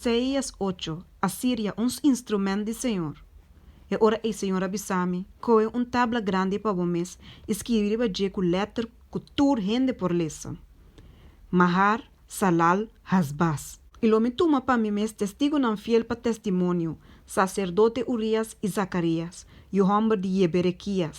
Isaías ocho, Asiria un instrumènt di Señor. E ora ei Señor a bisa mi, Kohe un tabla grandi pa bo mes i skirbi riba dje ku lèter ku tur hende por lesa, Mahar, Salal, Hasbaz. I lo mi tuma pa mi mes testigunan fiel pa testimonio, saserdote Urías i Zakarias, yu hòmber di Yeberekias,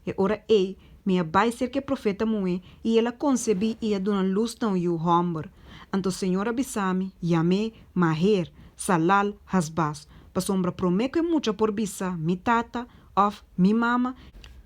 E ora ei, mi a bai serka e profeta muhé, i el a konsebí i a duna lus na un yu hòmber. Anto Señor a bisa mi, Yam'é, Maher, Salal-Hasbaz, pasobra promé ku e mucha por bisa mi tata, òf mi mama,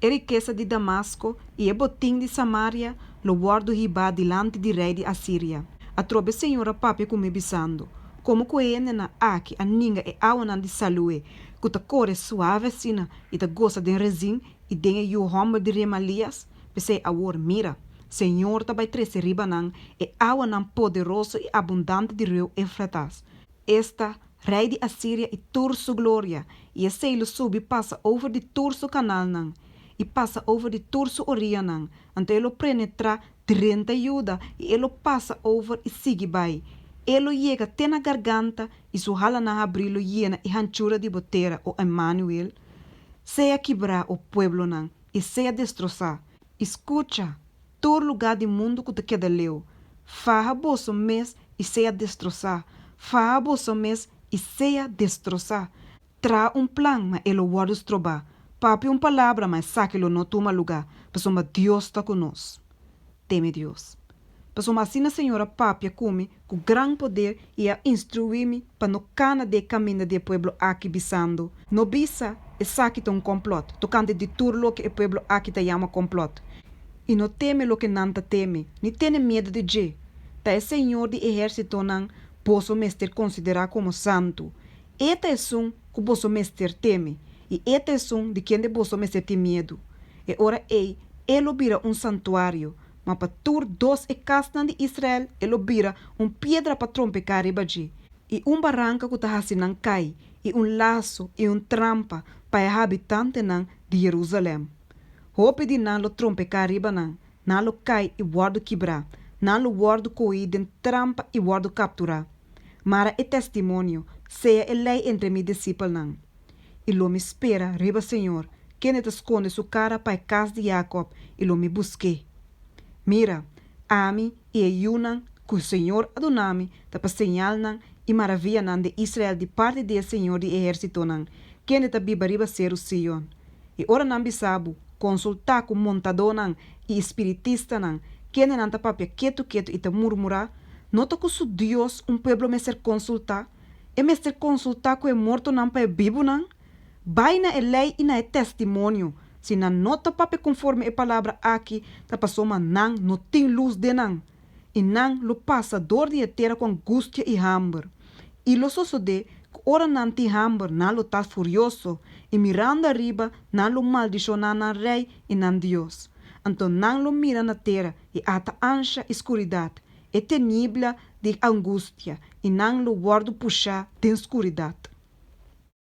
e rikesa di Damasko i e botin di Samaria lo wòrdu hibá dilanti di rei di Asiria. Atrobe Señor a papia ku mi bisando, Komo ku e hendenan aki a ninga e awanan di salu'é ku ta kore suave asina I ta gosa den Rezin i den e yu hòmber di Remalías, p'esei awor mira, Señor ta bai trese riba nan e awanan poderoso i abundante di reu Eufratas. Esta, rei di Asiria i tur su gloria, i esei lo subi pasa over di tur su kanalnan, i pasa over di tur su orianan, anto e lo prenetrá Trenta yuda i e lo pasa over i sigui bai. E lo yega te na garganta i su halanan habrí lo yena e hanchura di bo tera, o Emmanuel. Sea kibrá, o pueblonan, i sea destrosá. I skucha, tur lugá di mundu ku ta keda leu, faha boso mes i sea destrosá, faha boso mes i sea destrosá. Traha un plan ma e lo wòrdu strobá. Papia un palabra ma esaki lo no tuma lugá, pasobra Dios ta ku nos. Teme Dios. Pasobra asina Señor a papia ku mi ku gran poder i a instruí mi pa no kana den e kaminda di e pueblo aki bisando, No bisa, Esaki ta un kòmplòt, tokante di tur loke e pueblo aki ta yama kòmplòt. I no teme loke nan ta teme, ni tene miedu di dje. Ta e Señor di ehérsitonan boso mester konsiderá komo santu, E ta esun ku boso mester teme, i e ta esun di kende boso mester tin miedu. E ora ei e lo bira un santuario, ma pa tur dos e kasnan di Israel e lo bira un piedra pa trompeká riba dje, i un baranka ku ta hasi nan kai, i un laso i un trampa pa e habitantenan di Jerusalèm. Hopi di nan lo trompeká riba nan, Nan lo kai i wòrdu kibrá, nan lo wòrdu koí den trampa i wòrdu kapturá. Mara e testimonio, sea e lei entre mi disipelnan. I lo mi spera riba Señor, kende ta skonde su kara pa e kas di Jakòb, i lo mi busk'é. Mira, ami i e yunan ku Señor a duna mi ta pa señalnan i maravianan den Israel di parti di e Señor di ehérsitonan, kende ta biba riba seru Sion. I ora nan bisa bo, konsultá ku montadónan i espiritistanan, kende nan ta papia ketu ketu i ta murmurá, no ta ku su dios un pueblo mester konsultá? E mester konsultá ku e mortonan pa e bibunan? Bai na e lei i na e testimonio. Si nan no ta papia konforme e palabra akí, ta pasobra nan no tin lus den nan. i nan lo pasa dor di e tera ku angustia i hamber. I lo sosodé ku ora nan tin hamber nan lo ta furioso, i mirando ariba nan lo maldishoná nan rei i nan Dios. Anto nan lo mira na tera i ata ansha i skuridat, e tenibla di angustia, i nan lo wòrdu pushá den skuridat.